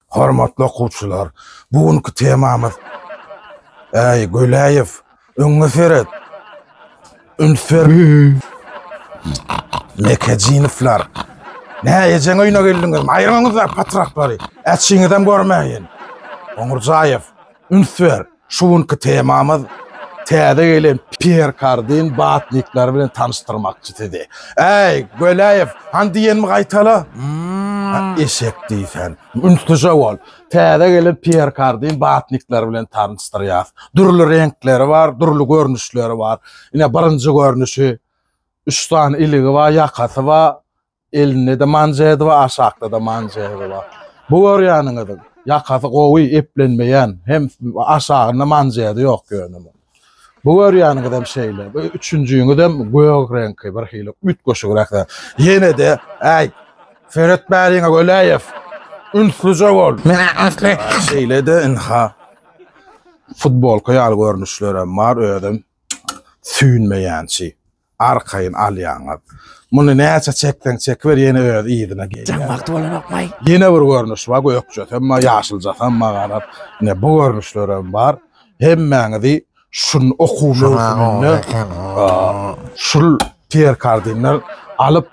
Hormatly okuwçylar, bu günki temamyz Äý, Göläýew, öňňe seret! Üns ber! Mekejinowlar! Nä ejeň öýüne geldiňizmi? Aýryňyzlar patraklary! Äçiňizem görmäýin! Goňurjaýew, üns ber! Şu günki temamyz täze gelen Pýer Kardin batnikleri bilen tanyşdyrmakçy sizi. Äý, Göläýew, han diýenimi gaýtala! Eşek diýsän. Ünslije bol. Täze gelen Pýer Kardin batnikleri bilen tanyşdyrýas. Dürli reňkleri bar, dürli görnüşleri bar. Ine, birinji görnüşi. Üç sany iligi bar, ýakasy bar. Elinde de manjedy bar, aşakda da manjedy bar. Bu görýäniňiziň ýakasy gowy, eplenmeýän, hem aşagynda manjedy ýok ýöne munuň. Bu görýäniňizem şeýle. Bu üçünjiňizem gök reňki, birhili üýtgeşigräk zat. Ýene-de, äý, seretmäliňe Weleýew, ünslüje bol. Şeýle-de, ynha, futbolka ýaly görnüşlerem bar, özem süýnmeýänçi. Arkaýyn alýaňyz. Muny näçe çekseň çekiber ýene öz yzyna gelýär. Jaň wagty bolanokmaý. Ýene bir görnüş bar gökjesem bar ýaşyljasam bar garaz ine bu görnüşlerem bar hemmäňizi şun okuw möwsüminde şul perkardinler alyp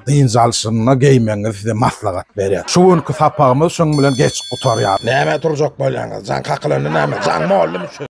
dynç alşyna geýmegiňizi size maslahat berýän. Şu günki sapagymyz şuň bilen geçip gutarýar. Näme turjak bolýaňyz? Jaň kakylanda näme? Jaň boldumy şu?